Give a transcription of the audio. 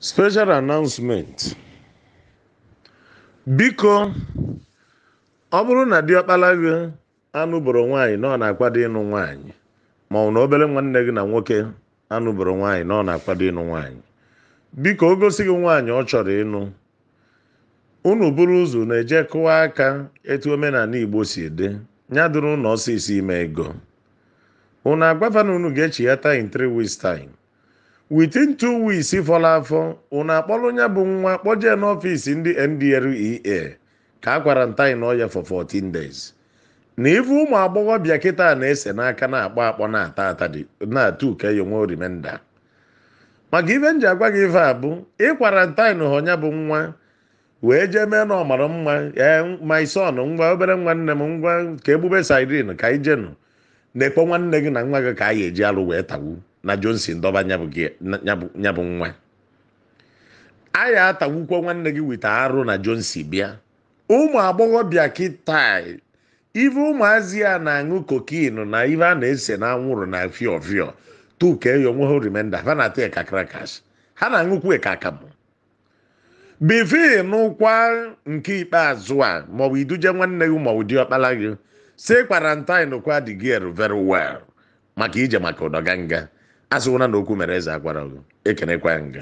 Special announcement. Biko, ọ bụrụ na diọkpala gị anụboro nwaanyị na ọ na-akwado ịnụ nwaanyị ma ọ bụ na obere nwanne gị na nwoke anụboro nwaanyị na ọ na-akwado ịnụ nwaanyị biko o gosi gị nwaanyị ọ chọrọ ịnụ unu buru ụzọ unu eje kụwa aka etu omenanị Igbo si dị ya dịrị unu ọsịsọ ime ego unu agwa fa na unu ga-echighata in three weeks time within two weeks fọrọ afọ unu akpọrọ nya bụ nwa kpọjee n'ọfịs ndị NDLEA ka a quarantine-ọ ya for 14 days na ife ụmụ agbọghọbịa kịta na-ese n'aka na-akpọ akpọ na-ata ata dị na two kee ya o nwee remainder maka ife m ji agwa gị ife a bụ ị quarantine-ọ nya bụ nwa wee jee mee na ọ mara mma ee my son ngwa obere nwanne m ngwa ka e bube siren ka anyị jenụ na-ekpọ nwanne gị na nwa gị ka anyị eji alụ wee tawu na Johnson dọba nyabụ gị- na- nyabụ nyabụ nwaanyị atawukwa nwanne gị weta arụ na Johnson bịa ụmụ agbọghọbịa kịta ife ụmụazị a na-aṅụ cocaine na ife a na-ese n'anwụrụ na fio fio two kee ya o nwee remainder ha na-ata ya ka crackers ha na-aṅụkwu ya ka akamụ before ị nụọkwa nke ikpeazụ a maọbụ iduje nwanne gị maọbụ diọkpala gị si quarantine kwa the girl very well maka ije maka ụdọganga asịwụna na okwu mere eze agwarọ gị ekenekwa nga